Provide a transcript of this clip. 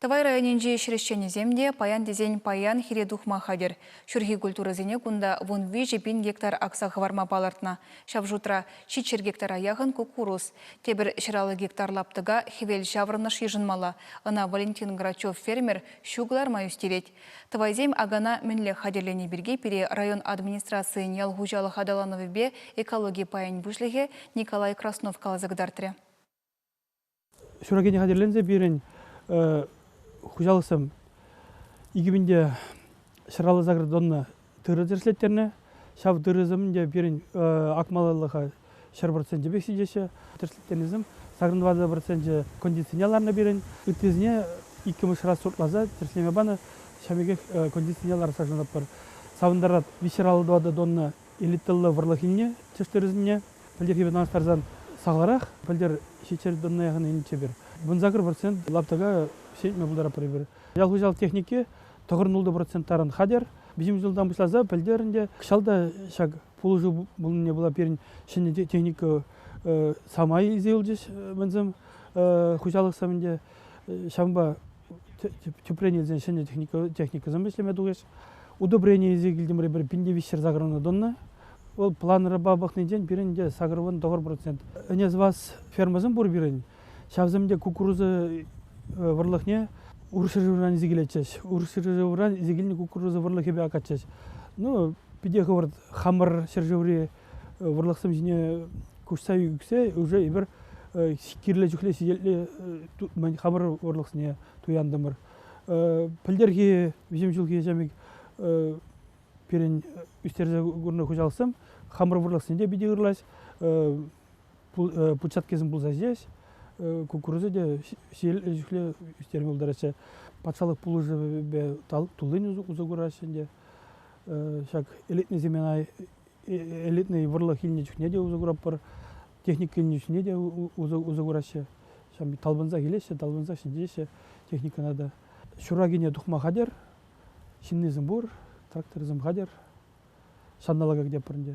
Тӑвай районӗнчи хресченӗсем те паян тесен паян хире тухма хатӗр. Ҫурхи культурӑсене кунта вун виҫӗ пин гектар акса хӑварма палӑртнӑ. Ҫав шутра ҫиччӗр гектара яхӑн куккурус. Тепӗр ҫӗраллӑ гектар лаптӑка хӗвел ҫаврӑнӑш йышӑнмалла. Ӑна Валентин Грачев фермер ҫу кӑларма ӳстерет. Тӑвайсем акана мӗнле хатӗрлени пирки пире район администрацийӗн ял хуҫалӑх аталанӑвӗпе экологи пайӗн пуҫлӑхӗ Николай Краснов каласа кӑтартрӗ. Ҫураkiне хатӗрленсе пирӗн хуҫалӑхсем икӗ пин те ҫӗраллӑ заградонна тырӑ тӗрӗслеттернӗ. Ҫав тырӑсем ӗнтӗ пирӗн акмаллӑха ҫӗр проценчӗ пек ҫитеҫҫӗ. Тӗрӗслеттернисем сакӑр двадцать проценчӗ кондицине ларнӑ пирӗн. Ыттисене иккӗмӗш раз сортласа тӗрӗслеме панӑ. Ҫав пекех кондицине лартса шанатпӑр. Савӑнтарать виҫҫӗр аллӑ тӑватӑ тонна элитӑллӑ вӑрлӑх илнӗ тӗштырӑсене пӗлтӗрхи пек танлаштарсан сахалрах. Пӗлтӗр ҫиччӗшер тонна яхӑн тепӗр вунсакӑр процент лаптӑка ҫӗнетме пултаратпӑр эпир. Ял хуҫалӑх техники тӑхӑрӑнуллӑ процент таран хатӗр. Виҫӗмӗш ҫултан пуҫласа пӗлтер ӗнтӗ кӑҫал та ҫак пулӑшу пулнине пула пирӗн ҫӗнӗ техника самай илсе юлчӗҫ мӗнсем хуҫалӑх сӑвӗнче. Ҫавӑнпа тӗпрен илсен ҫӗнӗ техникӑсем ӗҫлеме тухӗҫ. Удобрение илсе килтӗмӗр эпир пин те виҫ ҫӗр сакӑрвӑна тӑнӑ. Вӑл планрӑпа пӑхнинчен пирӗн те сакӑрвӑн тӑхӑр процент. Ӗне сӑвас фермӑсем пур пирӗн. Ҫавсем те кукуруза вӑрлӑхне урӑх ҫӗршывран илсе килетчӗҫ. Урӑх ҫӗршывран илсе килнӗ кукуруза вӑрлӑхӗпе акатчӗҫ. Ну, питӗ хӑвӑрт хамӑр ҫӗршыври вӑрлӑхсем ҫине куҫса ӳксе уже эпир кирлӗ чухлӗ сиенлӗ хамӑр вӑрлӑхсене туянтӑмӑр. пӗлтӗрхи виҫӗм ҫулхи ӗҫе пирӗн ӳстерсе курнӑ хуҫалӑхсем хамӑр вӑрлӑхсене те питӗ ырлаҫ, путчаткисем пулса ҫиес, кукуруза те ҫиелле ӳстерме пултараҫҫӗ. Патшалӑх пулӑшӑвӗпе туллин усӑ кураҫҫӗ ӗнтӗ. Ҫак ӗлетнӗ семена элитнӑй вӑрлӑх илнӗ чухне те усӑ куратпӑр, техника илнӗ чухне те усӑ кураҫҫӗ. Ҫам талпӑнсах илеҫҫӗ, талпӑнсах ҫӗнтереҫҫӗ техникӑна та. Ҫуракине тухма хатӗр, ҫыннисем пур, тракторсем хатӗр. Ҫанталӑка кӗтетпӗр ӗнтӗ.